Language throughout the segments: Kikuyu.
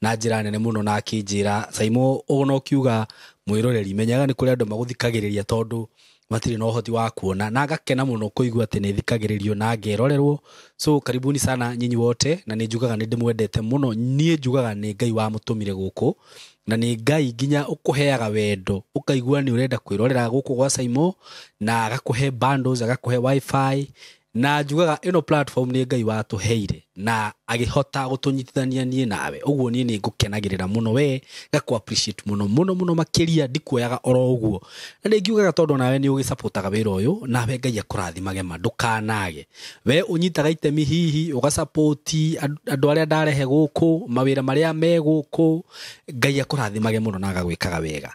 na njĩra nene mũno na akĩnjĩra Simon ona ũkiuga mwĩroreri menyaga nĩ kũrĩ andũ magũthikagĩrĩria tondũ matirĩ na ũhoti wa kuona na ngakena mũno kũigua atĩ nĩ thikagĩrĩrio na ngerorerwo so karibuni sana nyinyi wote na nĩ njugaga nĩ ndĩmwendete mũno niĩ njugaga nĩ Ngai wamũtũmire gũkũ na nĩ Ngai nginya ũkũheaga wendo ũkaigua nĩ ũrenda kwĩrorera gũkũ gwa Simon na agakũhe bundles agakũhe wifi na njugaga ĩno platform nĩ ngai watũheire na agĩhota gũtũnyitithania niĩ nawe ũguo niĩ nĩ ngũkenagĩrĩra mũno we ngakũ appreciate mũno mũno mũno makĩria ndikuoyaga oro ũguo na nĩ ngiugaga tondũ nawe nĩ ũgĩsapũtaga wĩra ũyũ nawe ngai akũrathimage ma ndũkanage we ũnyitaga itemi hihi ũgasapoti andũ arĩa ndarehe gũkũ mawĩra marĩa me gũkũ ngai akũrathimage mũno na agagwĩkaga wega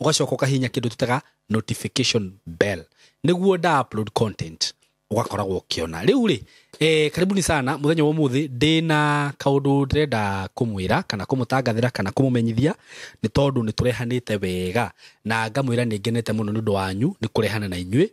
ugacoka ukahinya kindu tutaga notification bell niguo nda upload content ugakoragwo ukiona riu ri eh, karibuni sana muthenya wa umuthi ndi na kaundu ndirenda kumwira kana kumutangathira kana kumumenyithia ni tondu ni turehanite wega na ngamwira ni ngenete muno ni undu wanyu ni kurehana na inyui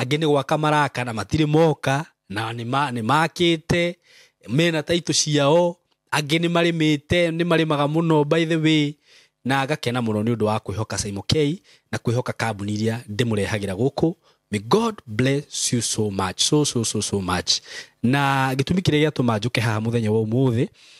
angĩ nĩ gwaka maraka na matirĩ moka na nĩ makĩte mena taitũ ciao angĩ nĩ marĩmĩte nĩ marĩmaga mũno by the way na ngakena mũno nĩ ũndũ wa kwĩhoka Simon K na kwĩhoka kambuni iria ndĩmũrehagĩra gũkũ May God bless you so much so so so so much na gĩtumi kĩrĩa gĩatũma njũke haha mũthenya wa ũmũthĩ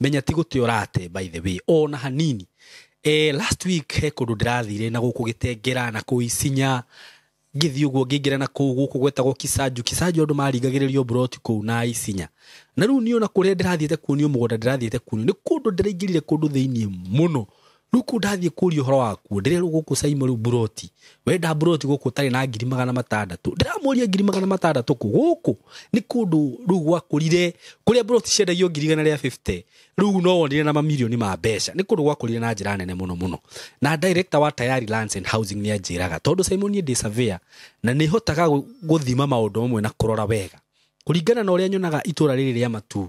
menya ti gũte ũrate by the way ona hanini eh, last week he kũndũ ndĩrathire na gũkũ gĩtengera na kũu isinya ngĩthiĩ ũguo ngĩingĩra na kũu gũkũ gwetagwo kisanju kisanju andũ maringagĩrĩrio mburoti kũu na isinya na rĩu niĩ ona kũrĩa ndĩrathiĩte kuonio mũgũnda ndĩrathiĩte kuonio nĩ kũndũ ndĩraingĩrire kũndũ thĩinĩ mũno rĩu kũ ndathiĩ kũria ũhoro wakuo ndĩrerwo gũkũ caimo rĩu mburoti wenda mburoti gũkũ ũtarĩ na ngiri magana matandatũ ndĩramũria ngiri magana matandatũ kũ gũkũ nĩ kũndũ rĩu gwakũrire kũrĩa mburoti ciendagio ngiri igana rĩa 50 rĩu no wonire na mamirioni ma mbeca nĩ kũndũ gwakũrire na njĩra nene mũno mũno na director wa tayari lands and housing nĩ anjĩraga tondũ caimo niĩ ndĩ surveyor na nĩ hotaga gũ- gũthima maũndũ mamwe na kũrora wega kũringana na ũrĩa nyonaga itũra rĩrĩ rĩa matuu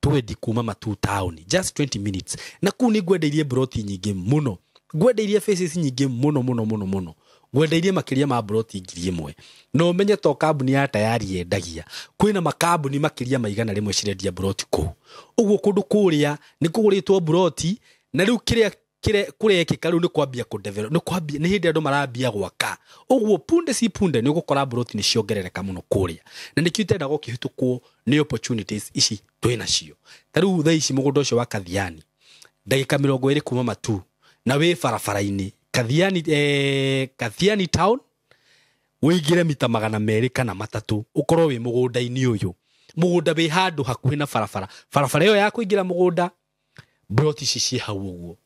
twendi kuma matu town just 20 minutes na kuu nĩ ngwendeirie mburoti nyingĩ mũno ngwendeirie faces nyingĩ mũno mũno mũno mũno ngwendeirie makĩria ma mburoti ngiri ĩmwe na ũmenye to kambuni ya tayari yendagia kwĩna makambuni makĩria ma igana rĩmwe cirendia mburoti kũu ũguo kũndũ kũrĩa nĩ kũgũrĩtwo mburoti na rĩu kĩrĩa kire kurekika riu ni kwambia ku develop ni kwambia ni hindi andu marambia gwaka uguo punde si punde ni ugukora buroti ni ciongerereka muno kuria na nikio itenda gukihitukwo ni opportunities ici twi nacio ta riu tha ici mugunda ucio wa kathiani ndagika mirongo iri kuma matu na wi barabara-ini kathiani eh, kathiani town wĩingĩre mita magana merĩ kana matatũ ũkorwo wĩ mũgũnda-inĩ ũyũ mũgũnda wĩ handũ hakuhĩ na barabara barabara ĩyo ya kũingĩra mũgũnda broti ici ciĩ hau ũguo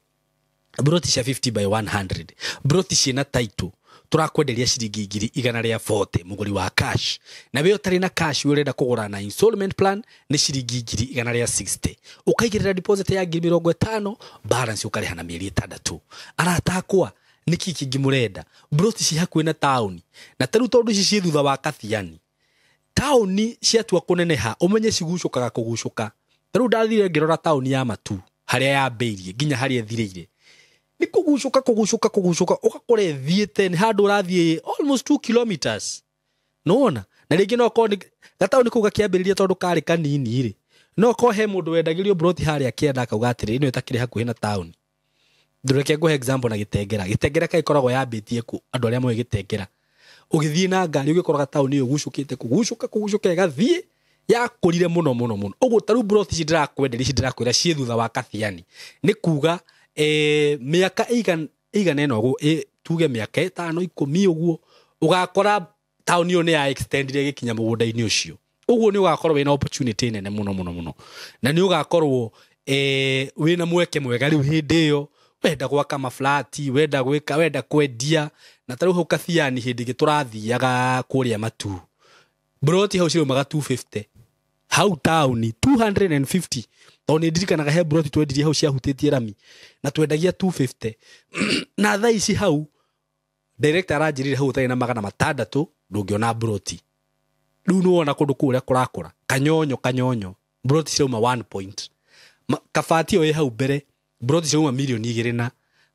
broti cia 50 by 100 broti ciĩ na title turakwenderia ciringi ngiri igana rĩa 40 mũgũri wa cash na wĩ ũtarĩ na cash wĩ ũrenda kũgũra na installment plan nĩ ciringi ngiri igana rĩa 60 ũkaigĩrĩra deposit ya ngiri mĩrongo ĩtano balance ũkarĩha na mĩeri ĩtandatũ arata akwa nĩkĩ kĩngĩ mũrenda broti ci hakuhĩ na taũni na tarĩu tondũ ici ciĩ thutha wa kathiani taũni ciatua kũneneha ũmenye cigucũkaga kũgucũka ta rĩu ndathire ngĩrora taũni ya matu harĩa yambĩirie nginya harĩa ĩthirĩire nĩ kũgucũka kũgucũka kũgucũka ũgakora ĩthiĩte nĩ handũ ũrathiĩ almost 2 kilometers nona na rĩngĩ no korwo nĩ- gataũni kau gakĩambĩrĩria tondũ karĩ kanini rĩ no korwo he mũndũ wendagĩrio mburoti harĩa akĩenda akauga atĩrĩ ĩno ĩtakĩrĩ hakuhĩ na taũni ndũreke ngũhe example na gĩtengera gĩtengera kaĩ koragwo yambĩtie kũ andũ arĩa moĩ gĩtengera ũgĩthiĩ na ngari ũgĩkoraga taũni ĩyo gucũkĩte kũgucũka kũgucũka ĩgathiĩ yakũrire mũno mũno mũno ũguo ta rĩu mburoti ici ndĩrakwenderia ici ndĩrakwĩra ciĩ thutha wa kabiani nĩ kuga eh, mĩaka ĩigan- ĩigana ĩno gũ- ĩ- tuge mĩaka ĩtano ikũmi ũguo ũgakora taũni ĩyo nĩ ya extendire ĩgĩkinya mũgũnda-inĩ ũcio ũguo nĩ ũgakorwo wĩna opportunity nene mũno mũno mũno na nĩ ũgakorwo eh, wĩna mweke mwega rĩu hĩndĩ ĩyo wenda gwaka maflati wenda gwĩka wenda kwendia na tarĩu hau kabiani hĩndĩ ĩngĩ tũrathiaga kũrĩa matu mburoti hau ciraumaga 250 hau taũni 250 tondũ nĩ ndirikanaga he mburoti twendirie hau ciahutĩtie rami na twendagia 250 na thaa ici hau director aranjirire hau ũtarĩ na magana matandatũ ndũngĩona broti rĩu nĩwona kũndũ kũu ũrĩa kũrakũra kanyonyo kanyonyo broti cirauma 1 point Ma- kabati ĩyo ĩ hau mbere broti cirauma milioni igĩrĩ na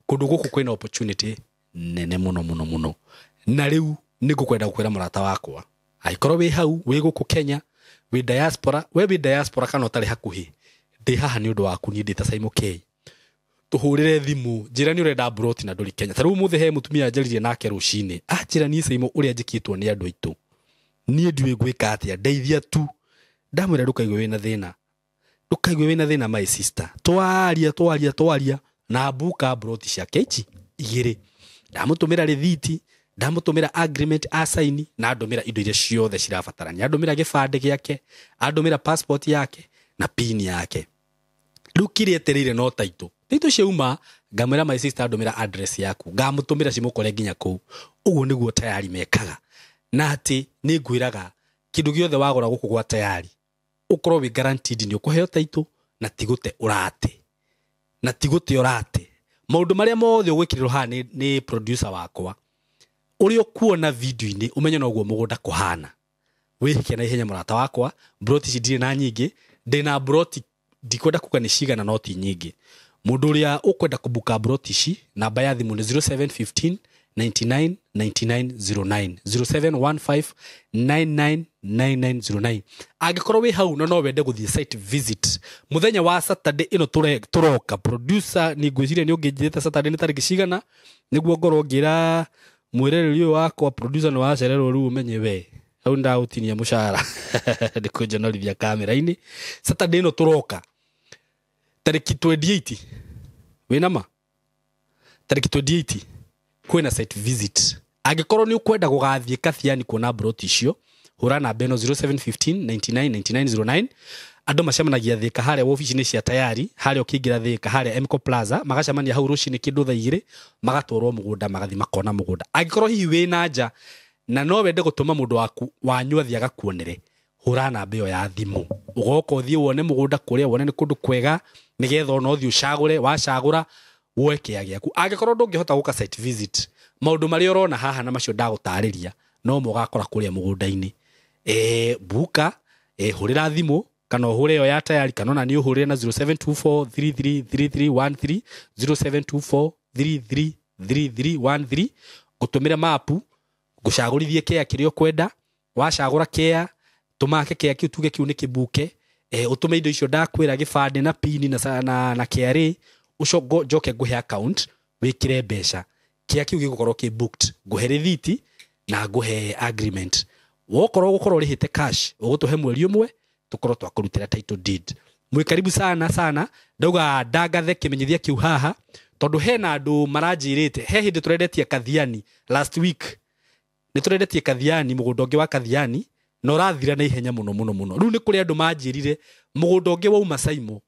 kũndũ gũkũ kwĩna opportunity nene mũno mũno mũno na rĩu nĩ ngũkwenda gũkwĩra mũrata wakwa angĩkorwo wĩ hau wĩ gũkũ kenya wĩ diaspora we wĩ diaspora kana ũtarĩ hakuhĩ ndĩ haha nĩ ũndũ waku niĩ ndĩ ta Simon K tũhũrĩre thimũ njĩra nĩ ũrenda mburoti na ndũri kenya ta rĩu ũmũthĩ he mũtumia njaririe nake rũcinĩ anjĩra niĩ caimo ũrĩa njĩkĩtwo nĩ andũ aitũ niĩ ndiũĩ ngwĩka atĩa ndeithia tu ndamwĩra ndũkaigue wĩna thĩna ndũkaigue wĩna thĩna my sister twaria twaria twaria na mbuka mburoti ciake ici igĩrĩ ndamũtũmĩra rĩthiti ndamũtũmĩra agreement asaini na ndũmĩra indo iria ciothe cirabatarania andũmĩra gĩbandĩ gĩake andũmĩra passport yake na pin yake riu kiri eterire no taito taito ciauma ngamwira my sister ndumira address yaku ngamutumira cimukore nginya kuu uguo niguo tayari mekaga na ati ni ngwiraga kindu giothe wagura guku gwa tayari ukorwo wi guaranteed ni ukuheo taito na tigute urate na tigute urate maundu maria mothe ugwikirirwo haha ni, ni producer wakwa uria ukuona video-ini umenye noguo mugunda kuhana wĩhike na ihenya mũrata wakwa mburoti ici ndirĩ na nyingĩ ndĩ na mburoti ndikwenda kuga nĩ cigana no ti nyingĩ mũndũ ũrĩa ũkwenda kũbuka mburoti ici namba ya thimũ nĩ 0715 99 9909 0715 99 9909 angĩkorwo wĩ hau na no wende gũthiĩ site visit mũthenya wa saturday ĩno tũre- tũroka producer nĩ ngwĩciria nĩ ũngĩnjĩte saturday nĩ tarĩki cigana nĩguo ngorwo ngĩra mwĩrereri ũyũ wakwa producer nĩ wacererwo rĩu ũmenye we hau ndagũtinia mũcara nĩ kũnjonorithia kamera-inĩ saturday ĩno tũroka tarĩki 28 wĩna ma tarĩki 28 kwĩna site visit angĩkorwo nĩ ũkwenda gũgathiĩ kabiani kuona mburoti icio hura namba ĩno 0715999909 andå macemanagia thĩka harĩa wobici-inĩ cia tayari harĩa ũkĩingĩra thĩka harĩa mco plaza magacemania hau rũcinĩ kĩndũ tha igĩrĩ magatwarwo mũgũnda magathi makona mũgũnda angĩkorwo hihi wĩ na nja na no wende gũtũma mũndũ waku wanyu athiĩ agakuonere hũra namba ĩyo ya thimũ ũgoka ũthiĩ wone mũgũnda kũrĩa wone nĩ kũndũ kwega nĩgetha ona ũthiĩ ũcagũre wacagũra woe kĩa gĩaku angĩkorwo ndũngĩhota gũka site visit maũndũ marĩa ũrona haha na macio ndagũtarĩria no mo ũgakora kũrĩa mũgũnda-inĩ e, buka e, hũrĩra thimũ kana ũhũre ĩyo ya tayari kana ona nĩ ũhũrĩre na 0724333313 0724333313 ngũtũmĩre mapu ngũcagũrithie kea kĩrĩa ũkwenda wacagũra kea tũmake kea kĩu tuge kĩu nĩ kĩbuke e, ũtũme indo icio ndakwĩra gĩbandĩ na pini na, sa- na, na kĩarĩ ũcoke njoke ngũhe account wĩkĩre mbeca kĩrĩa kĩu gĩgũkorwo kĩ booked ngũhe rithiti na ngũhe agreement wokorwo gũkorwo urĩhĩte cash ũgũtũhe mweri ũmwe tũkorwo twakũrutĩra title deed mwĩ karibu sana sana ndauga ndangathe kĩmenyithia kĩu haha tondũ hena andũ maranjĩrĩte he hĩndĩ tũrendetie kathiani last week nä tå rendetie kathiani må gå nda å ngä wa kathiani na å rathira na ihenya må no må no må no rä u nä kå rä andå manjä rire må gå nda å ngä wauma caimo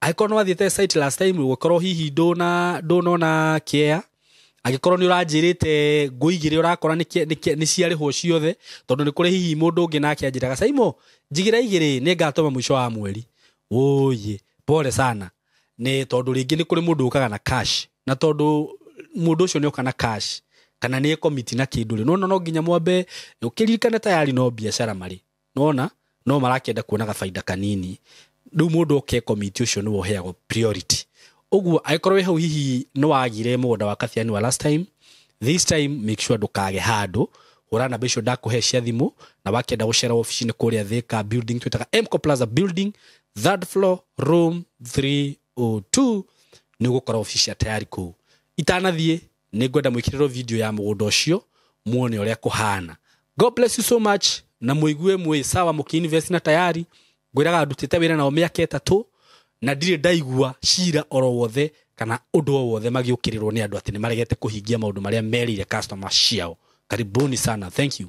angĩkorwo nĩ wathiĩte site last time ũgĩkorwo hihi ndũna ndũnona kĩea angĩkorwo nĩ ũranjĩrĩte ngũigĩre ũrakora nĩ kĩa- nĩ kĩa- nĩ ciarĩhwo ciothe tondũ nĩ kũrĩ hihi mũndũ ũngĩ nake anjĩraga caimo njigĩra igĩrĩ nĩ ngatũma mũico wa mweri ũyĩ pole sana nĩ tondũ rĩngĩ nĩ kũrĩ mũndũ ũkaga na cash na tondũ mũndũ ũcio nĩ oka na cash kana nĩ ekomiti na kĩndũ rĩ nona no nginya mwambe ũkĩririkane tayari no biacara marĩ nona no marakĩenda kuona gabainda kanini rĩu mũndũ oke komiti ũcio nĩwe ũheagwo priority ũguo angĩkorwo wĩ hau hihi nĩ wagire mũgũnda wa kabiani wa last time this time make sure ndũkage handũ hũra namba icio ndakũhe cia thimũ na wakĩenda gũcera obici-inĩ kũrĩa thĩka building twĩtaga mco plaza building third floor room 302 nĩ ũgũkora obici cia tayari kũu itanathiĩ nĩ ngwenda mwĩkĩrĩrwo video ya mũgũnda ũcio muone ũrĩa kũhana god bless you so much na mũigue mwĩ sawa mũkĩinvest na tayari ngwĩraga ndutĩte wĩra nao mĩaka ĩtatũ na ndirĩ ndaigua cira oro wothe kana ũndũ o wothe magĩũkĩrĩrwo nĩ andũ atĩ nĩ maregete kũhingia maũndũ marĩa merĩire customer ciao karibuni sana thank you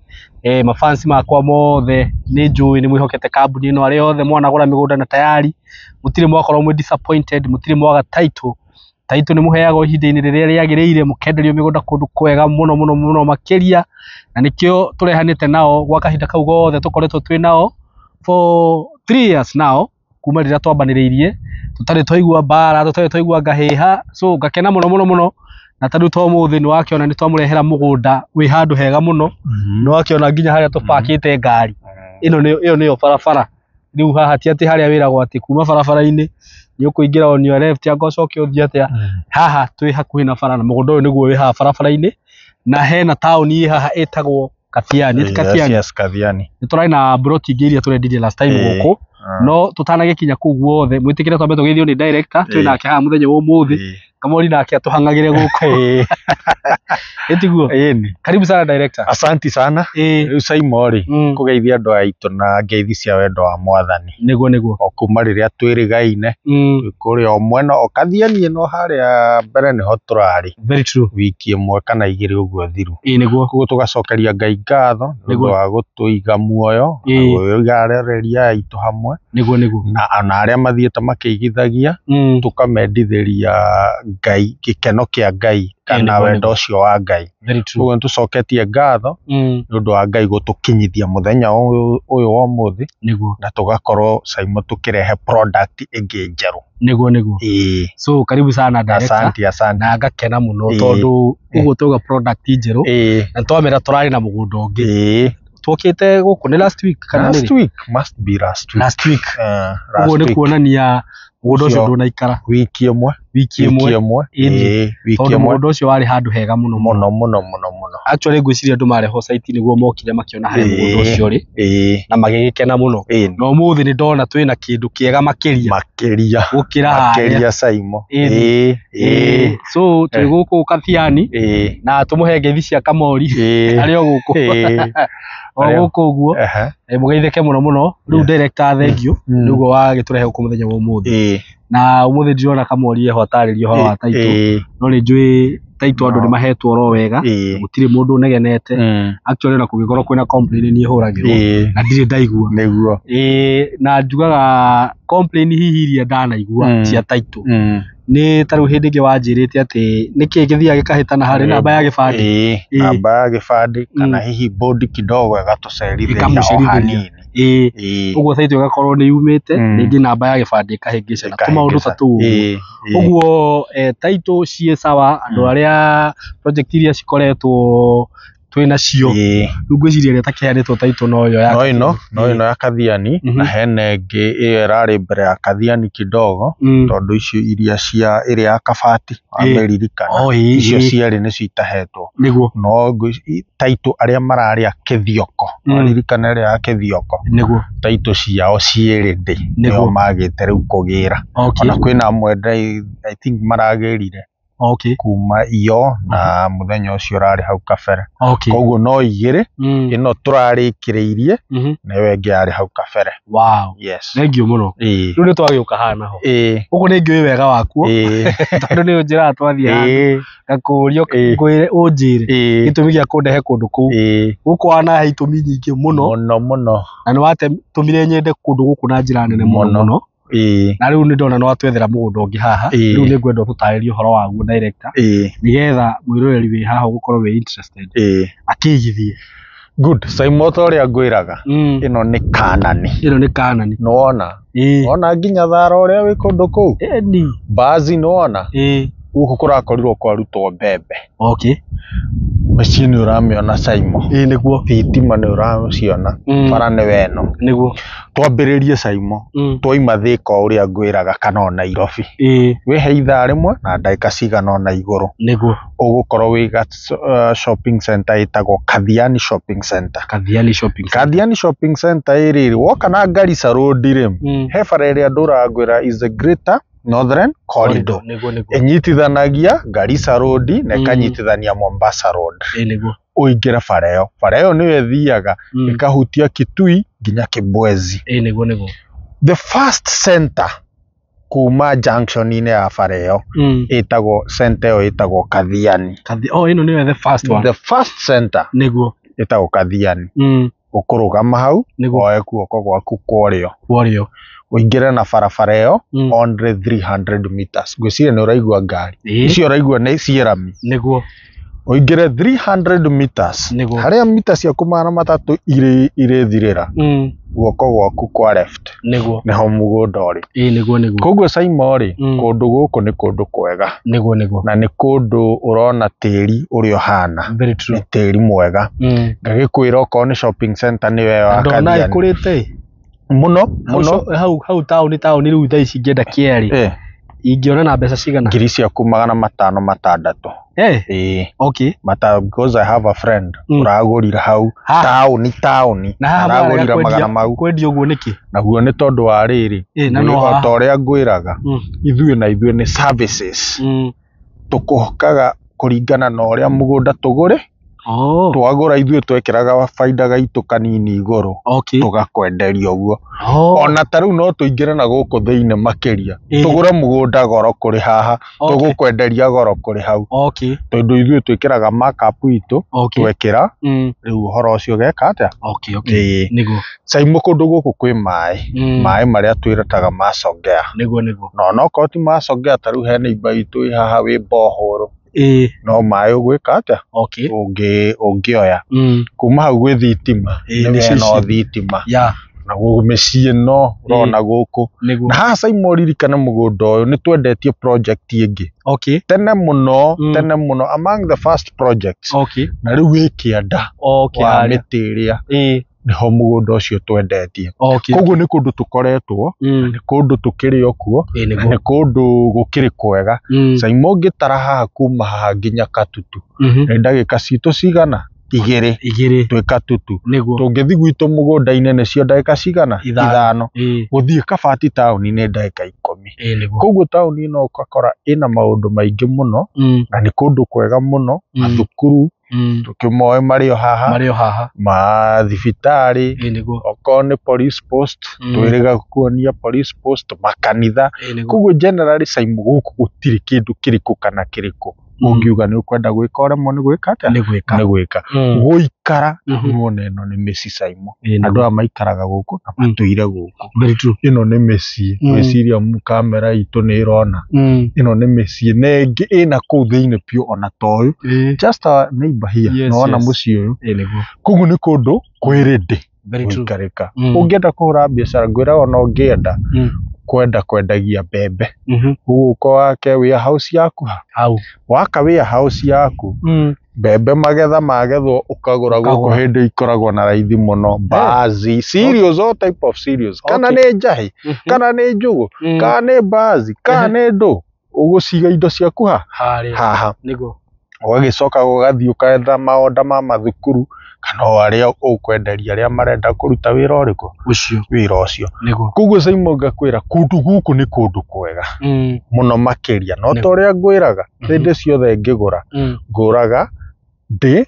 Eh, mafansi makwa mothe nĩ njũĩ nĩ mwĩhokete kambuni ĩno arĩa othe mwanagũra mĩgũnda na tayari mũtirĩ mwakorwo mwĩ disappointed mũtirĩ mwaga title title nĩ mũheagwo ihinda-inĩ rĩrĩa rĩagĩrĩire mũkenderio mĩgũnda kũndũ kwega mũno mũno mũno makĩria na nĩkĩo tũrehanĩte nao gwa kahinda kau gothe tũkoretwo twĩ nao for three years now kuma rĩrĩa twambanĩrĩirie tũtarĩ twaigua mbara tũtarĩ twaigua ngahĩha so ngakena mũno mũno mũno na tarĩu to mũthĩ nĩ wakĩona nĩ twamũrehera mũgũnda wĩ handũ hega mũno nĩ wakĩona nginya harĩa tũbakĩte ngari ĩno nĩ ĩyo nĩyo barabara rĩu haha ti atĩ harĩa wĩragwo atĩ kuma barabara-inĩ nĩ ũkũingĩra on your left anga ũcoke ũthiĩ atĩa haha twĩ hakuhĩ na bara na mũgũnda ũyũ nĩguo wĩ haha barabara-inĩ na hena taũni ĩ haha ĩtagwo Kathiani, ti Eh, Kathiani. yes, Kathiani. Nĩ tũrarĩ na mburoti ingĩ iria tũrendirie last time Eh, gũkũ. ah, No tũtanagĩkinya kũu guothe, mwĩtĩkĩre twambe tũgeithio nĩ director, twĩ Eh. nake haha mũthenya wa ũmũthĩ. eh, Kamori nake atũhang'agĩre gũkũ. eh, Ĩtiguo. eh, ni. Karibu sana director. asanti sana Eh. rä u saimo rä Mm. kå geithia andå aitå na ngeithi cia wendo wa mwathani nĩguo nĩguo o kuma rĩrĩa twĩrĩgaine mm. twĩ kũrĩa o mwena o kathianie no harĩa mbere nĩho tũrarĩ very true wiki ĩmwe kana igĩrĩ ũguo thiru ĩĩ nĩguo koguo tũgacokeria ngai ngatho nĩ ũndũ wa gũtũiga muoyo na gũiga arereria aitũ hamwe nĩguo nĩguo na ona arĩa mathiĩte makĩigithagia mm. tũkamendithĩria ngai gĩkeno kĩa ngai kana wendo ũcio wa ngai Very true. koguo nĩ tũcoketie ngatho Mm, nĩ ũndũ wa ngai gũtũkinyithia mũthenya ũyũ ũyũ wa ũmũthĩ nĩguo na tũgakorwo caimo tũkĩrehe product ĩngĩ njerũ nĩguo nĩguo ĩĩ so karibu sana director asante asante na ngakena mũno Ĩĩ. tondũ ũguo twauga product njerũ ĩĩ na twamera tũrarĩ na mũgũnda ũngĩ ĩĩ twokĩte gũkũ nĩ last week kana last nĩ week must be last week last week Eh, last ũguo nĩ week. kuonania mũgũnda ũcio ũcio ndũnaikara wiki ĩmwe wiki wiki ĩmwe ĩmwe Ĩndĩ. Ĩĩ, wiki tondũ ĩmwe mũgũnda ũcio warĩ handũ hega mũno mũno mũno mũno mũno actually ngwĩciria andũ marehwo site nĩguo mokire makĩona harĩa mũgũnda Ĩĩ. ũcio ũrĩ Ĩĩ, na magĩgĩkena mũno ĩĩ, na ũmũthĩ nĩ ndona twĩna kĩndũ kĩega makĩria makĩria gũkĩra harĩa makĩria caimo Ĩĩ. Ĩĩ, ĩĩ, Ĩĩ. so twĩ Eh. gũkũ kathiani ĩĩ, na tũmũhe ngeithi cia kamori ĩĩ, arĩ o gũkũ ĩĩ, o arĩ o- gũkũ ũguo Ehe. Eh, mũgeithĩke mũno mũno rĩu Yes. director thengiũ Mm. nĩguo wa gĩtũrehe gũkũ mũthenya wa ũmũthĩ ĩĩ na ũmũthĩ ndirona kamorie ho atarĩrie ũhoro wa taitũ ĩĩ no nĩ njũĩ taitũ andũ No. nĩ mahetwo oro wega ĩĩ gũtirĩ mũndũ ũnegenete Mm. actually ona kũngĩkorwo kwĩna complain niĩ hũragĩrwo ĩĩ na ndirĩ ndaigua nĩguo Ĩĩ, na njugaga complain hihi iria ndanaigua Mm. cia taitũ Mm. Nĩ ta rĩu hĩndĩ ĩngĩ wanjĩrĩte atĩ nĩkĩ gĩthiaga gĩkahĩtana harĩ namba ya gĩbandĩ. Ĩĩ, Ĩĩ. namba ya gĩbandĩ kana Mm. hihi bondi kidogo ĩgatũcerithĩria o Ĩkamũcerithĩria. hanini. Ĩĩ. Ĩĩ. Ũguo title ĩgakorwo nĩ yumĩte, Mm. rĩngĩ namba ya gĩbandĩ ĩkahĩngĩcana. Tũmaũndũ ta tũu ũguo. Ĩĩ, ĩĩ. Ũguo eh, title ciĩ sawa, andũ Mm. arĩa project iria cikoretwo twĩ nacio Ĩĩ. rĩu ngwĩciria ĩrĩa ĩtakĩheanĩtwo taitũ no yo ya no ĩno no Ĩĩ. ĩno ya kathiani Mhm. na hena ĩngĩ ĩyo ĩrarĩ mbere ya kathiani kidogo Mm. tondũ icio iria cia ĩrĩa ya kabati Ĩĩ. wameririkana Oh, ĩĩ, icio ĩĩ. cierĩ nĩcio itahetwo nĩguo no ngwĩci- taitũ arĩa mararĩa kĩthioko Mm. waririkana ĩrĩa ya kĩthioko nĩguo taitũ ciao cierĩ ndĩ Nĩguo. nĩo magĩte rĩu kũgĩra okay. ona kwĩna amwe ndai- I think maragerire okay kuma iyo na mũthenya ũcio ũrarĩ hau kabere okay koguo no igĩrĩ mm. ĩno tũrarĩkĩrĩirie mhm. na ĩyo ĩngĩ yarĩ hau kabere wow yes thengiũ mũno ĩĩ rĩu nĩ twagĩũka hana ho ĩĩ gũkũ nĩ ngĩũĩ wega wakuo ĩĩ tondũ nĩ ũnjĩraga twathiĩ handũ ĩĩ ngakũũria Ĩĩ. ngwĩre ũnjĩre ĩĩ gĩtũmi gĩa kũndehe kũndũ kũu ĩĩ gũkũ wanahe itũmi nyingĩ mũno mũno mũno na nĩ watũmire nyende kũndũ gũkũ na njĩra nene mũno Mũno. mũno ĩĩ na rĩu nĩ ndona nĩ watwethera mũgũnda ũngĩ haha Ĩĩ. rĩu nĩ ngwenda ũtũtarĩrie ũhoro waguo director ĩĩ nĩgetha mwĩroreri wĩ haha ũgũkorwo wĩ interested ĩĩ akĩigithie good Simon ta ũrĩa ngwĩraga mm. ĩno nĩ kanani ĩno nĩ kanani nĩwona ĩĩ ona nginya thara ũrĩa wĩ kũndũ kũu ĩni mbazi nĩwona ĩĩ gũkũ kũrakorirwo kwarutwo mbembe Okay. Mĩciĩ nĩ ũramĩona Caimo. Ĩĩ nĩguo. Thitima nĩ ũraciona. Mm. Bara nĩ weno. Nĩguo. Twambĩrĩrie Caimo. Mm. Twaima Thĩka o ũrĩa ngwĩraga kana o Nairobi. Ĩĩ. Wĩhe ithaa rĩmwe na ndagĩka cigana ũna igũrũ. Nĩguo. Ũgũkorwo wĩ ga, uh, shopping center ĩtagwo Kathiani Shopping Center. Kathiani Shopping Center. Kathiani Shopping Center ĩrĩ rĩ, woka na Garissa Road rĩ, Mm. he bara ĩrĩa ndũragwĩra is the greater Northern Corridor. Nĩguo nĩguo. Ĩnyitithanagia Garissa Road na Mm. ĩkanyitithania Mombasa Road. Ĩ nĩguo. Ũingĩre bara ĩyo. Bara ĩyo nĩyo ĩthiaga Mm. ĩkahutia Kitui nginya Kibwezi. Ĩ nĩguo nĩguo. The first center kuma junction-inĩ ya bara ĩyo Mm. ĩtagwo center ĩyo ĩtagwo Kathiani. Kathi- Oh, ĩno nĩyo the first one. The first center Nĩguo. ĩtagwo Kathiani. Mm. ũkũrũgama hau nĩguo woe guoko gwaku kwa ũrĩo warĩo ũingĩre na barabara ĩyo Mm. only 300 meters ngwĩciria nĩ ũraigua ngari Ĩĩ. icio ũraigua nĩ ciĩrami nĩguo ũingĩre 300 meters Nĩguo. harĩa mita ciaku magana matatũ irĩ irĩthirĩra Mm. guoko gwaku kwa left nĩguo nĩho mũgũnda ũrĩ ĩĩ nĩguo nĩguo koguo caimo rĩ Mm. kũndũ gũkũ nĩ kũndũ kwega nĩguo nĩguo na nĩ kũndũ ũrona tĩri ũrĩa ũhana very nĩ true tĩri mwega Mm. ngagĩkwĩra okorwo nĩ shopping center nĩ we wa ndona Kariani. ĩkũrĩte ĩ. mũno Hau mũno co- hau hau taũni taũni rĩu thaa ici ingĩenda kĩarĩ Eh, ingĩona na mbeca cigana ngiri ciaku magana matano matandatũ Eh, ĩĩ okay mata because I have a friend Mm. ũragũrire hau Haha. taũni taũni na haha mũrarega aragũrire magana kwendia mau kwendia ũguo nĩkĩ naguo nĩ tondũ wa rĩrĩ Eh, na no ngwĩ- haha. o ta ũrĩa ngwĩraga Mm, ithuĩ na ithuĩ nĩ services mm. tũkũkaga kũringana na ũrĩa mũgũnda tũgũrĩ Oh. twagũra ithuĩ twekĩraga bainda gaitũ kanini igũrũ Okay. tũgakwenderia ũguo Oh. ona ta rĩu no tũingĩre na gũkũ thĩinĩ makĩria Ĩĩ. tũgũre mũgũnda goro kũrĩ haha Okay. tũgũkwenderia goro kũrĩ hau Okay. tondũ ithuĩ twĩkĩraga markup itũ Okay. twekĩra Mm. rĩu ũhoro ũcio geka atĩa Okay, okay. Ĩĩ. Nĩguo. caimũ kũndũ gũkũ kwĩ maĩ Mm. maĩ marĩa twĩrataga macongea Nĩguo, nĩguo. na onokorwo ti macongea ta rĩu he neighbor itũ ĩ haha wĩ mbohoro Ĩĩ. No maĩ ũgwĩka atĩa? Okay. Ũngĩ, ũngĩoya. Mm. Kuma hau gwĩ thitima. Ĩĩ, nĩ nĩcio mĩena o icio. thitima. Yeah. Na gũkũ mĩciĩ ĩno ũrona gũkũ. Nĩguo. Na haha Simon ũririkane mũgũnda ũyũ nĩ twendetie project ĩngĩ. Okay. Tene mũno, Mm. tene mũno among the first projects. Okay. Na rĩu ĩ kĩanda Okay, wa harĩa. mĩtĩ ĩrĩa. Ĩĩ. nĩho mũgũnda ũcio twendetie okay koguo nĩ kũndũ tũkoretwo Mm, nĩ kũndũ tũkĩrĩ o kuo ĩĩ na nĩ nĩguo kũndũ gũkĩrĩ kwega Mm, caima ũngĩtara haha kuma haha nginya katutu mhm. nĩ ndagĩka citũ cigana igĩrĩ igĩrĩ twĩ katutu nĩguo tũngĩthi gwitũ mũgũnda-inĩ nĩcio ndagĩka cigana Ithano. ithano Ĩĩ, gũthiĩ kabati taũni nĩ ndagĩka ikũmi ĩĩ nĩguo koguo taũni ĩno ũgakora ĩna maũndũ maingĩ mũno Mm, na nĩ kũndũ kwega mũno na Mm. thukuru Mm. tũkĩmoe marĩ o haha marĩ o haha ma thibitarĩ ĩĩ nĩguo okorwo nĩ police post Mm. twĩrĩga kuonia police post makanitha ĩĩ nĩguo koguo generally saimu gũkũ gũtirĩ kĩndũ kĩrĩkũ kana kĩrĩkũ Mm. ũngiuga nĩ ũkwenda gwĩka ũremwo nĩ gwĩka atĩa nĩ gwĩka nĩ gwĩka Mm. gũikara Mhm. muona ĩno nĩ mĩci saimu Ĩĩ, nĩ andũ aya maikaraga gũkũ na Mm. matũire gũkũ very true. ĩno nĩ mĩciĩ Mm. wĩciria mu- kamera itũ nĩ ĩrona Mm. ĩno nĩ mĩciĩ na ĩngĩ ĩna kũu thĩinĩ biũ ona ta ũyũ Ĩĩ, just our neighbor here Yes, na wona yes. mũciĩ ũyũ ĩĩ nĩguo. koguo nĩ kũndũ kwĩrĩndĩ Very true. gũikarĩka Mm. ũngĩenda kũhũra biacara ngwĩra ona ũngĩenda Mm. kwenda kwendagia mbembe Mhm. ũguo ũko wake wĩa house yaku ha Hau. waka wĩa house yaku Mm. Mbembe magetha magethwo ũkagũra gũkũ Ũkagũra. hĩndĩ ikoragwo na raithi mũno. Mbaazi, cereals, all type of cereals. Kana Okay. nĩ njahĩ, kana nĩ njũgũ, Mm. kana nĩ mbaazi, kana nĩ ndũ. Ũgũciga indo ciaku ha? harĩa Haha. nĩguo Ũgagĩcoka ũgathiĩ ũkaetha maonda ma mathukuru. kana o arĩa ũkwenderia arĩa marenda kũruta wĩra ũrĩkũ ũcio wĩra ũcio nĩguo koguo Simon ngakwĩra kũndũ gũkũ nĩ kũndũ kwega Mm, mũno makĩria no Nĩ- ta ũrĩa ngwĩraga Mhm. hĩndĩ ciothe ngĩgũra mm, ngũraga ndĩ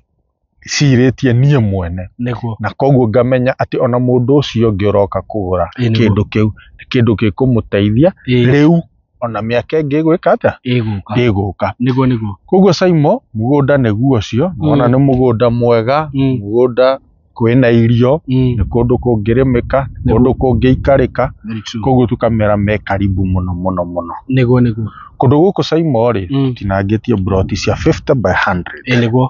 cirĩtie niĩ mwene nĩguo na koguo ngamenya atĩ ona mũndũ ũcio ũngĩ ũroka kũgũra Ĩ, nĩguo. kĩndũ kĩu nĩ kĩndũ gĩkũmũteithia Ĩ, rĩu ona mĩaka ĩngĩ ĩgwĩka atĩa ĩgũka ndĩgũka nĩguo nĩguo koguo caimo mũgũnda nĩguo ũcio nona Mm. nĩ mũgũnda mwega Mm, mũgũnda kwĩna irio mm, nĩ kũndũ kũngĩrĩmĩka nĩ Nĩguo. kũndũ kũngĩikarĩka very true. koguo tũkamera me karibu mũno mũno mũno nĩguo nĩguo kũndũ gũkũ caimo rĩ Mm, tinangĩtie broti cia 50 by 100 ĩ nĩguo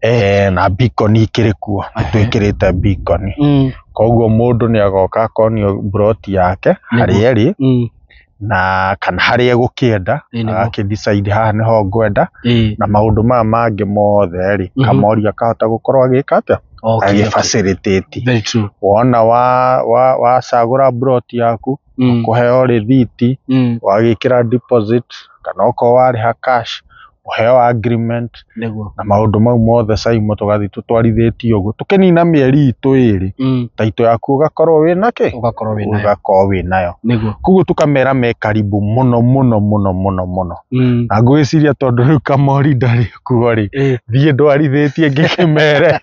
eh, na bikoni ikĩrĩ kuo Ehe. twĩkĩrĩte bikoni Mm, koguo mũndũ nĩ agoka akonio broti yake Nĩguo. harĩa ĩrĩ mm, na kana harĩa egũkĩenda Ĩĩ, nĩguo. agakĩ decide haha nĩho ngwenda Ĩĩ, na maũndũ maya mangĩ mothe rĩ Mhm. kamoria kahota gũkorwo agĩka atĩa okay, agĩ okay. facilitate Very true. wona wa wa wacagũra plot yaku Mm, kũheo rĩthiti mm, wagĩkĩra deposit kana okorwo warĩha cash, ũheo agreement nĩguo na maũndũ mau mothe Saimo tũgathiĩ tũtwarithĩtio ũguo. Tũkĩnina mĩeri itũ ĩrĩ, mm. taito yaku ũgakorwo wĩ na kĩ? Ũgakorwo wĩ nayo. Ũgakorwo wĩ nayo. Nĩguo. Koguo tũkamera me karibu mũno mũno mũno mũno mũno. Mm. Na ngwĩciria tondũ rĩu kamori ndarĩ kuo rĩ, eh. thiĩ ndwarithĩtie ngĩkĩmere.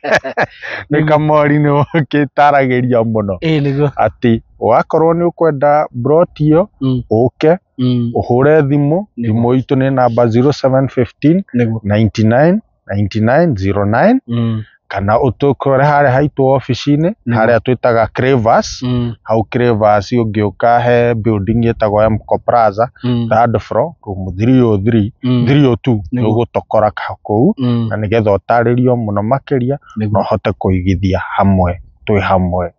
Nĩ kamori nĩ ũkĩtaragĩria mũno. Eh, nĩguo. Atĩ wakorwo nĩ ũkwenda broti ĩyo, mm. ũke. Mm. ũhũre thimũ Nĩ- thimũ itũ nĩ namba 0715 Nĩguo. 99 99 09 Mm. kana ũtũkore harĩa haitũ obici-inĩ Nĩguo. harĩa twĩtaga Cravers Mm. hau Cravers ũngĩũka he building ĩtagwo Mco Plaza Mm. third floor room 303 Mm. 302 nĩ Nĩguo. ũgũtokora ka- kũu Mm. na nĩgetha ũtarĩrio mũno makĩria Nĩguo. na ũhote kũigithia hamwe twĩ hamwe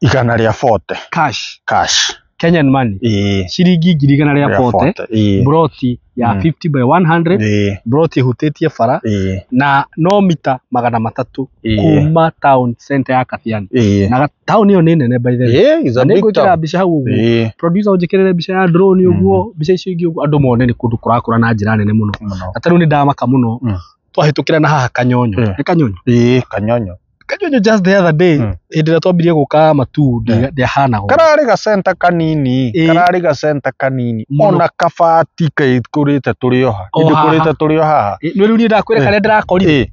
igana rĩa bote cash cash Kenyan money ĩĩ ciringi ngiri igana rĩa bote ĩĩ broti ya Mm. 50 by 100 ĩĩ broti ĩhutĩtie bara ĩĩ na no mita magana matatũ ĩĩ kuma town center ya Kathiani ĩĩ na ga- town ĩyo nĩ nene by the way ĩĩ is na a nĩ big ngwĩkĩra town mbica hau ũguo ĩĩ producer ũnjĩkĩrĩre mbica ya drone ũguo mbica icio ingĩ ũguo andũ mone nĩ kũndũ kũrakũra na njĩra nene mũno mũno na tarĩu nĩ ndamaka mũno Mm. twahĩtũkĩra na haha kanyonyo Mm. nĩ kanyonyo ĩĩ kanyonyo kajonyo just the other day Mm. hĩndĩ ĩrĩa twambirie gũka matu Yeah. ndĩahana ho kararĩ gacenta kanini Ĩĩ. kararĩ gacenta kanini Mũno. ona kabati kaikũrĩte tũrĩ oha O ĩndĩ haha. kũrĩte tũrĩ o haha nĩ rĩu niĩ ndakwĩra Eh. karĩa ndĩrakorire Ĩĩ,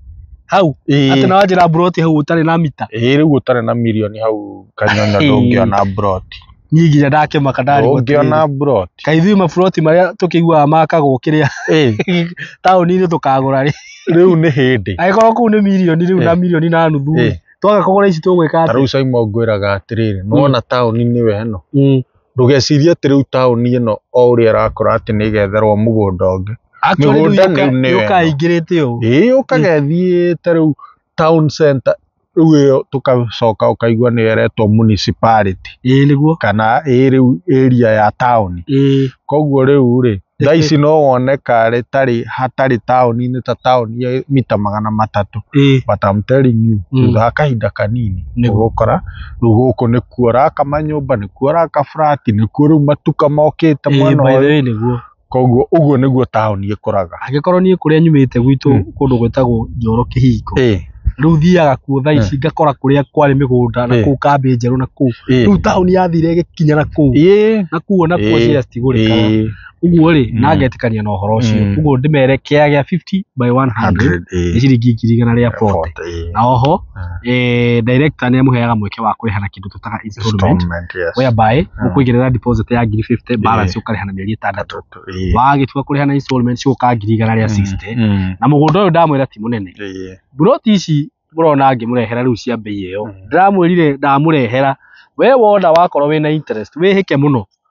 hau ĩĩ. atĩ na wanjĩra mburoti hau ũtarĩ na mita Ĩĩ, rĩu ũtarĩ na mirioni hau kanyonyo Ĩĩ. ndũngĩona broti niĩ nginya ndakĩmaka ndarĩ ũngĩona brot kaĩ ithuĩ maburoti marĩa tũkĩiguaga makagwo kĩrĩa Eh, taũni-inĩ tũkagũra rĩ rĩu nĩ hĩndĩ agĩkorwo kũu nĩ mirioni rĩu na Eh. mirioni na nuthu rĩ Eh. twaga kũgũra ici tũgwĩka ta atĩ rĩu caimo ngwĩraga atĩrĩrĩ nĩwona taũni nĩ we ĩno Mm. ndũgecirie atĩ rĩu taũni ĩno o ũrĩa ĩrakũra atĩ nĩ ĩgetherwo mũgũnda ũngĩ Actually, rĩu Mĩgũnda yũka- nĩ- nĩ yũka wega. ĩingĩrĩte ũũ ĩĩ ũkagethiĩ ta rĩu town center Rĩu ĩyo tũkacoka ũkaigua nĩ yeretwo municipality. Ĩĩ nĩguo. Kana ĩĩ rĩu area ya taũni. Ĩĩ. Koguo rĩu rĩ, thaa ici no wone karĩ tarĩ hatarĩ taũni-inĩ ta taũni ya mita magana matatũ. Ĩĩ. But I'm telling you, thutha wa kahinda kanini, nĩ ũgũkora rĩu gũkũ nĩkuo ũraka manyũmba, nĩkuo ũraka flat, nĩkuo rĩu matuka mokĩte mwena ũyũ. Ĩĩ by the way nĩguo. koguo ũguo nĩguo taũni ĩkũraga angĩkorwo niĩ kũrĩa nyumĩte gwitũ Mm. kũndũ gwĩtagwo njoro kĩhingo ĩĩ rĩu thiaga kuo thaa ici ngakora kũrĩa kwarĩ mĩgũnda na Eh. kũu kambĩ njerũ na kũu ĩĩ rĩu taũni yathire ĩgĩkinya na kũu ĩĩ na kuo na kuo Eh. njĩra citigũrĩka ĩĩ ũguo rĩ Mm. na ngetĩkania na ũhoro ũcio Mm. ũguo ndĩmere kĩa gĩa 50 by 100 100 nĩ ĩĩ ciringi ngiri igana rĩa 40 40 ĩĩ na oho eh, director nä amũheaga mweke wa kũrĩha na kĩndũ tũtaga installment Installment, yes. whereby Mm. ũkũigĩrĩra deposit ya ngiri 50 balance Eh. ũkarĩha na mĩeri ĩtandatũ Eh. wagĩtua kũrĩha na installment ciũka ngiri igana rĩa 60 Mm, mm, na mũgũnda ũyũ ndamwĩra ti mũnene eh, mburoti ici mũrona ngĩmũrehera rĩu cia mbei ĩyo Mm. ndamwĩrire ndamũrehera we wona wakorwo wĩna interest wĩhĩke mũno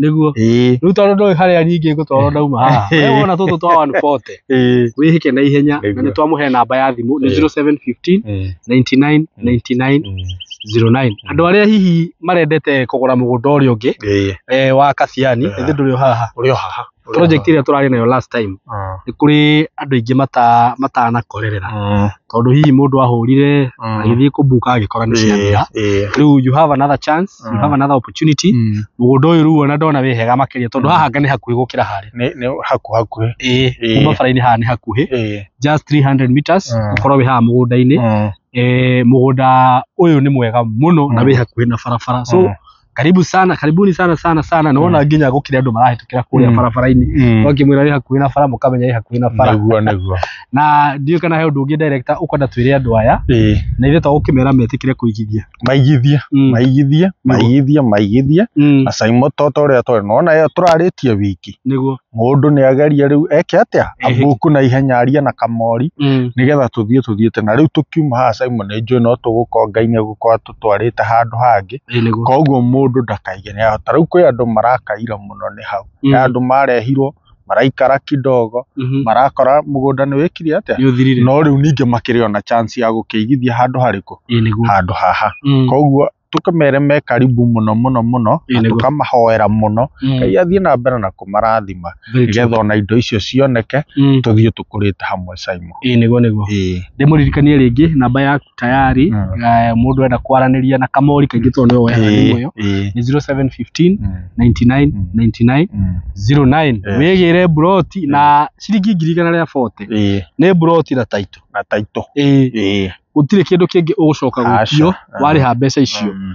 nĩguo ĩĩ rĩu tondũ ndũĩ harĩa nyingĩ ngũtwarwo ndauma haha Ĩĩ. we wona tũtũ twa 140 ĩĩ wĩhĩke na ihenya na Nĩguo. nĩ twamũhe namba ya thimũ nĩ Ĩĩ. 0715 ĩĩ 99 99 ĩĩ. 09 andũ arĩa hihi marendete kũgũra mũgũnda ũrĩa ũngĩ ĩĩ eh, wa kaciani Ĩĩ. ĩthĩ ndũrĩ o haha ũrĩ o haha project ĩrĩa tũrarĩ nayo last time Mm, nĩ kũrĩ andũ aingĩ mata matanakorerera mm, tondũ hihi mũndũ ahũrire mm. agĩthiĩ kũmbuka agĩkora nĩ ciamera Eh, eh. rĩu you have another chance you Mm. have another opportunity Mm. mũgũnda ũyũ rĩu ona ndona wĩ hega makĩria tondũ Mm. haha nga nĩ hakuhĩ gũkĩra harĩa Nĩ- nĩ haku hakuhĩ Eh. kuma bara-inĩ haha nĩ hakuhĩ Eh, just 300 meters Mm. ũkorwo wĩ haha mũgũnda-inĩ mm, Eh, mũgũnda ũyũ nĩ mwega mũno na Mm. wĩ hakuhĩ na barabara so mm. karibu sana karibuni sana sana sana nä wona nginya gå kä rä andå marahätå kä ra kå rä a Mm. barabara-inä Mm. twakä mwä ra rä hakuä na bara må kamenya rä hakuä na bara Nĩguo nĩguo. na ndiå kana he å ndå å ngä director å kwenda twä re andå aya Ĩĩ. na ithe twagå kä mera metä kä re kå igithia Maigithie, Mm. maigithie, maigithie, maigithie. Mm, Na Simon Toto ũrĩa twarĩ nao, na ĩyo tũrarĩtie wiki. nĩguo Mũndũ nĩ ageria rĩu eke atĩa? Ehe. Ambuku na ihenya arie na kamori Mm, nĩgetha tũthiĩ tũthiĩte. Na rĩu tũkiuma haha Simon nĩ njũĩ no tũgũkonga-inĩ gũkorwo ũtwarĩte handũ hangĩ Ĩĩ nĩguo. koguo mũndũ ndakaige nĩ arahota rĩu kwĩ andũ marakaire mũno nĩ hau Mm. he andũ marehirwo maraikara kidogo Mhm. marakora mũgũnda nĩ wĩkire atĩa Nĩ ũthirire. no rĩu ningĩ makĩrĩ ona chance ya gũkĩigithia handũ harĩkũ Ĩĩ nĩguo. handũ haha Mm. koguo tũkamere me karibu mũno mũno mũno Ĩĩ na nĩguo. tũkamahoera mũno Mm. ngai athiĩ na mbere na kũmarathima Very true. nĩgetha ona indo icio cioneke Mm. tũthiĩ tũkũrĩte hamwe Simon Ĩĩ nĩguo nĩguo Ĩĩ. ndĩmũririkanie rĩngĩ namba yaku tayari Mm. eh, mũndũ enda kwaranĩria na kamori kaingĩ tondũ nĩwe woyaga thimũ ĩyo Ĩĩ. nĩ 0715 Mm. 99 Mm. 99 Mm. 09 Yes. wĩgĩre buroti na ciringi ngiri igana rĩa 40 Ĩĩ. nĩ buroti na taito na taito ĩĩ Ĩĩ. gũtirĩ kĩndũ kĩngĩ ũgũcoka Aca. gũtio warĩha mbeca icio Mm.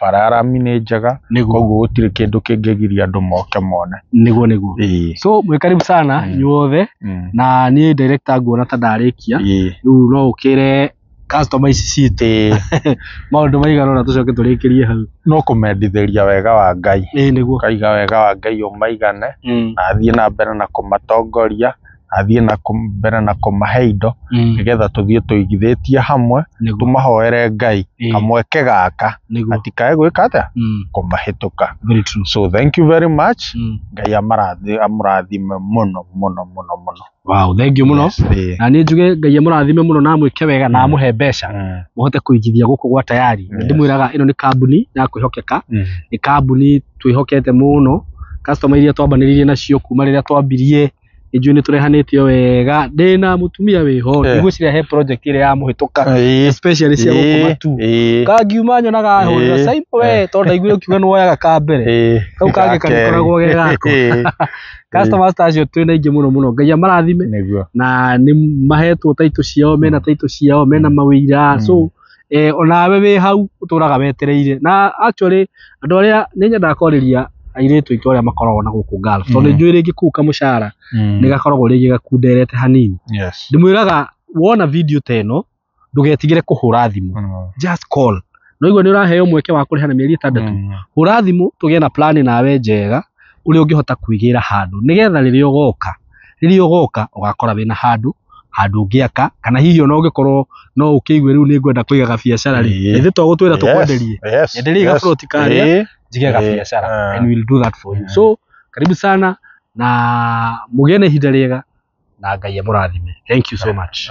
bara ya rami nĩ njega nĩguo koguo gũtirĩ kĩndũ kĩngĩgiria andũ moke mone nĩguo nĩguo ĩĩ so mwĩ karibu sana Mm. inyuothe mm, na niĩ director nguona ta ndarĩkia ĩĩ rĩu no ũkĩre customer ici citũ ĩĩ maũndũ maigana ũna tũcoke tũrĩkĩrie hau no kũmendithĩria wega wa ngai ĩĩ nĩguo kaiga wega wa ngai ũmaigane na athiĩ na mbere na kũmatongoria athiĩ na kũ- mbere na kũmahe indo Mm. nĩgetha tũthiĩ tũigithĩtie hamwe Nĩguo. tũmahoere ngai Eh, kamweke gaka nĩguo. matikae gwĩka atĩa Mm. kũmahĩtũka Very true. so thank you very much Mm. ngai amarathi amũrathime mũno mũno mũno mũno Wow, thengiũ mũno Yes, eh. na niĩ njuge ngai amũrathime mũno na amwĩke wega na Mm. amũhe mbeca Mm, mũhote kũigithia gũkũ gwa tayari Yes. ndĩmwĩraga ĩno nĩ kambuni ya kwĩhokeka mm, nĩ kambuni twĩhokete mũno customer iria twambanĩrĩirie nacio kuma rĩrĩa twambirie injuĩ nĩ tũrehanĩtio wega ndĩ na mũtumia wĩho Eh. ndigwĩciria he project ĩrĩa yamũhĩtũka Ĩĩ. especially cia gũkũ Ĩĩ. matu Ĩĩ. kangiuma nyonaga Eh. hũrĩra saipo we tondũ ndaiguire ũkiuga nĩ woyaga ka mbere Ĩĩ. kau kangĩ Gake. kagĩkoragwo ge gako Ĩĩ. customers ta acio twĩ na ingĩ mũno mũno ngai amarathime Nĩguo. na nĩ mahetwo taitũ ciao mena taitũ ciao mena mawĩira so eh, onawe wĩ hau ũtũraga wetereire na actually andũ arĩa nĩ nyendaga kwarĩria airĩtu aitũ arĩa makoragwo na gũkũ Gulf tondũ Mm. njũĩ rĩngĩ kũu kamũcara Mm. nĩ gakoragwo rĩngĩ gakunderete hanini Yes. ndĩmwĩraga wona video ta ĩno ndũgetigĩre kũhũra thimũ Mm. just call noigua nĩ ũraheo mweke wa kũrĩhana mĩeri ĩtandatũ Mm. hũra thimũ tũgĩe na plan nawe njega ũrĩa ũngĩhota kũigĩra handũ nĩgetha rĩrĩa ũgoka rĩrĩa ũgoka ũgakora wĩna handũ handũ ũngĩaka kana hihi ona ũngĩkorwo no ũkĩigue rĩu nĩ ngwenda kũiga gabiacara rĩ Ĩĩ. ĩthĩ to gũtwĩra Yes, tũkwenderie yes, Endelee yes. gaburoti karĩa. Ĩĩ. njige Ĩĩ, gabiacara ah. and we'll do that for you Mm. so karibu sana na mũgĩe na ihinda rĩega na ngai amũrathime thank you so much